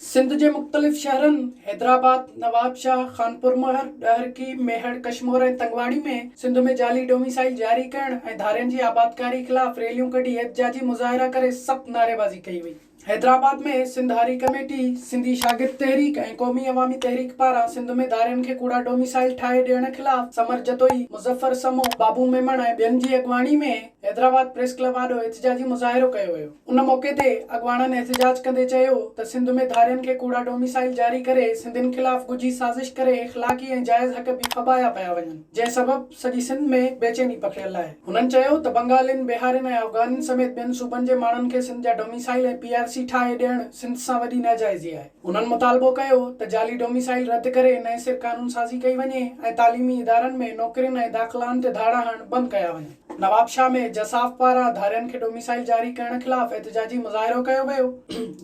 سنڌ جي مختلف شهرن حيدرآباد، نوابشاهه، خانپورمهر، ڏهرڪي، ميهڙ، ڪشمور ۽ تنگواڻي ۾ سنڌ ۾ جعلي ڊوميسائيل جاري ڪرڻ ۽ ڌارين جي آبادڪاري خلاف ريليون ڪڍي احتجاجي مظاهرا ڪري سخت نعريبازي ڪئي وئي. حيدرآباد ۾ سنڌ هاري ڪميٽي، سنڌي شاگرد تحريڪ ۽ قومي عوامي تحريڪ پاران سنڌ ۾ ڌارين کي ڪوڙا ڊوميسائيل ٺاهي ڏيڻ خلاف سمر جتوئي، مظفر سمون، بابو ميمڻ ۽ ٻين جي اڳواڻي ۾ حيدرآباد پريس ڪلب آڏو احتجاجي مظاهرو ڪيو ويو ان موقعي تي اڳواڻن احتجاج ڪندي چيو ته سنڌ ۾ ڌارين کي ڪوڙا ڊوميسائيل جاري ڪري سنڌين خلاف ڳجهي سازش ڪري اخلاقي ۽ جائز حق به ڦٻايا پيا وڃن جنهن سبب سڄي سنڌ ۾ بيچيني پکڙيل آهي هنن چيو ته بنگالين بهارين ۽ افغانين سميت ٻين صوبن جي ماڻهن کي سنڌ جا ڊوميسائيل ۽ پي آر سي ٺاهي ڏيڻ سنڌ سان وڏي ناجائزي آهي هنن مطالبو ڪيو ته جعلي ڊوميسائيل رد ڪري نئين سر قانون سازي ڪئي وڃي ۽ تعليمي ادارن ۾ نوڪرين ۽ داخلائن تي ڌاڙا هڻڻ بند ڪيا وڃن. نوابشاهه ۾ جساف پاران ڌارين کي ڏو ميسائل جاري ڪرڻ خلاف احتجاجي مظاهرو ڪيو ويو،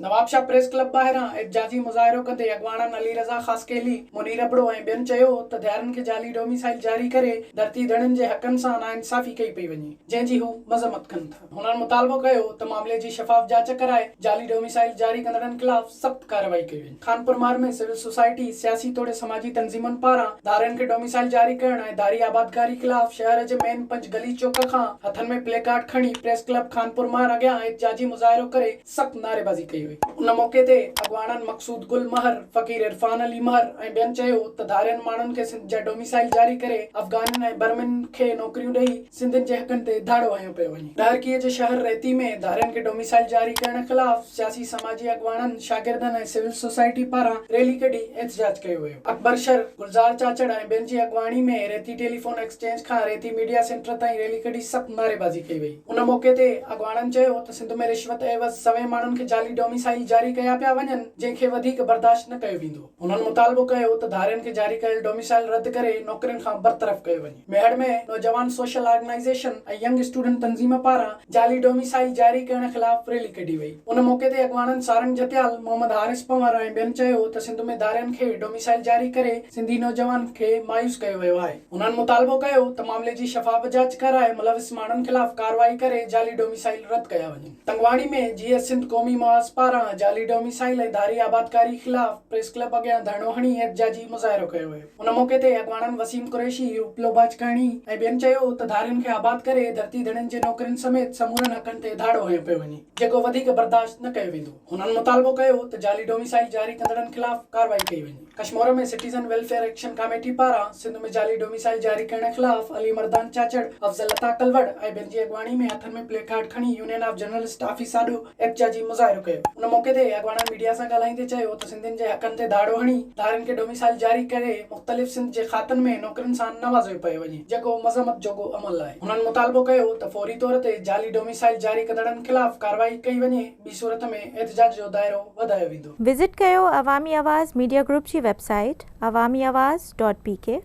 نوابشاهه پريس ڪلب ٻاهران احتجاجي مظاهرو ڪندي اڳواڻن علي رضا خاصخيلي، منير ابڙو ۽ ٻين چيو ته ڌارين کي جعلي ڏو ميسائل جاري ڪري ڌرتي ڌڻين جي حقن سان ناانصافي ڪئي پئي وڃي، جنهن جي هو مذمت ڪن ٿا. هنن مطالبو ڪيو ته معاملي جي شفاف جاچ ڪرائي جعلي ڏو ميسائل جاري ڪندڙن خلاف سخت ڪارروائي ڪئي وڃي. خانپورمار ۾ سول سوسائٽي، سياسي توڙي سماجي تنظيمن پاران ڌارين کي ڊوميسائل جاري ڪرڻ ۽ ڌاري آبادگاري خلاف شهر جي مين پنج گلي چوڪ کان هٿن ۾ پلي ڪارڊ کڻي پريس ڪلب خانپورمار اڳيان احتجاجي مظاهرو ڪري سخت نعريبازي ڪئي وئي. ان موقعي تي اڳواڻن مقصود گل مهر، فقير عرفان علي مهر ۽ ٻين چيو ته ڌارين ماڻهن کي سنڌ جا ڊوميسائل جاري ڪري افغانين ۽ برمين کي نوڪريون ڏئي، سنڌين جي حقن تي ڌاڙو هنيو پيو وڃي. ڌارڪيء جي شهر ريتي ۾ ڌارين کي ڊوميسائيل جاري ڪرڻ خلاف سياسي سماجي اڳواڻن، شاگردن ۽ سول سوسائٽي پاران ريلي ڪڍي احتجاج ڪيو ويو. اڪبر شر، گلزار چاچڙ ۽ ٻين جي اڳواڻي ۾ ريتي ٽيليفون ايڪسچينج کان ريتي ميڊيا سينٽر تائين ريلي ڪڍي سخت نعريبازي ڪئي وئي. ان موقعي تي اڳواڻن چيو ته سنڌ ۾ رشوت عيوض سوين ماڻهن کي جعلي ڊوميسائيل جاري ڪيا پيا وڃن جنهن کي وڌيڪ برداشت نه ڪيو ويندو. هنن مطالبو ڪيو ته ڌارين کي جاري ڪيل ڊوميسائيل رد ڪري نوڪرين کان برطرف ڪيو وڃي. ميهڙ ۾ نوجوان سوشل آرگنائيزيشن ۽ ينگ اسٽوڊنٽ تنظيم پاران جعلي ڊوميسائيل جاري ڪرڻ خلاف ريلي ڪڍي وئي ان موقعي تي اڳواڻن سارنگ جتيال، محمد حارث پنور ۽ ٻين چيو ته سنڌ ۾ ڌارين کي ڊوميسائيل جاري ڪري سنڌي نوجوانن کي مايوس ڪيو ويو آهي انهن مطالبو ڪيو ته معاملي جي شفاف جاچ ڪرائي ملوث ماڻهن خلاف ڪارروائي ڪري جعلي ڊوميسائيل رد ڪيا وڃن تنگواڻي ۾ جي ايس سنڌ قومي محاذ پاران جعلي ڊوميسائيل ۽ ڌاري آبادڪاري خلاف پريس ڪلب اڳيان ڌرڻو هڻي احتجاجي مظاهرو ڪيو ويو. ان موقعي تي اڳواڻن وسيم قريشي، اپلو باجڪاڻي ۽ ٻين چيو ته ڌارين کي آباد ڪري ڌرتي ڌڻين جي نوڪرين سميت سمورن حقن تي ڌاڙو هنيو پيو وڃي، جيڪو وڌيڪ برداشت نه ڪيو ويندو. هنن مطالبو ڪيو ته جعلي ڊوميسائيل جاري ڪندڙن خلاف ڪارروائي ڪئي وڃي. Kashmore ۾ citizen welfare action committee پاران سنڌ ۾ جعلي ڊوميسائيل جاري ڪرڻ خلاف علي مردان چاچڙ، افضل عطا ڪلوڙ ۽ ٻين جي اڳواڻي ۾ هٿن ۾ پليڪارڊ کڻي يونين آف جرنلسٽ آفيس آڏو احتجاجي مظاهرو ڪيو. ان موقعي تي اڳواڻن ميڊيا سان ڳالهائيندي چيو ته سنڌين جي حقن تي ڌاڙو هڻي ڌارين کي ڊوميسائيل جاري ڪري مختلف سنڌ جي کاتن ۾ نوڪرين سان نوازيو پيو وڃي جيڪو مذمت جوڳو عمل آهي هنن مطالبو ڪيو ته فوري طور تي جعلي ڊوميسائيل جاري ڪندڙن خلاف ڪارروائي ڪئي وڃي ٻي صورت ۾ احتجاج جو دائرو وڌايو ويندو. وزٽ ڪيو عوامي آواز ميڊيا گروپ جي web site Awami Awaz dot P ڪي.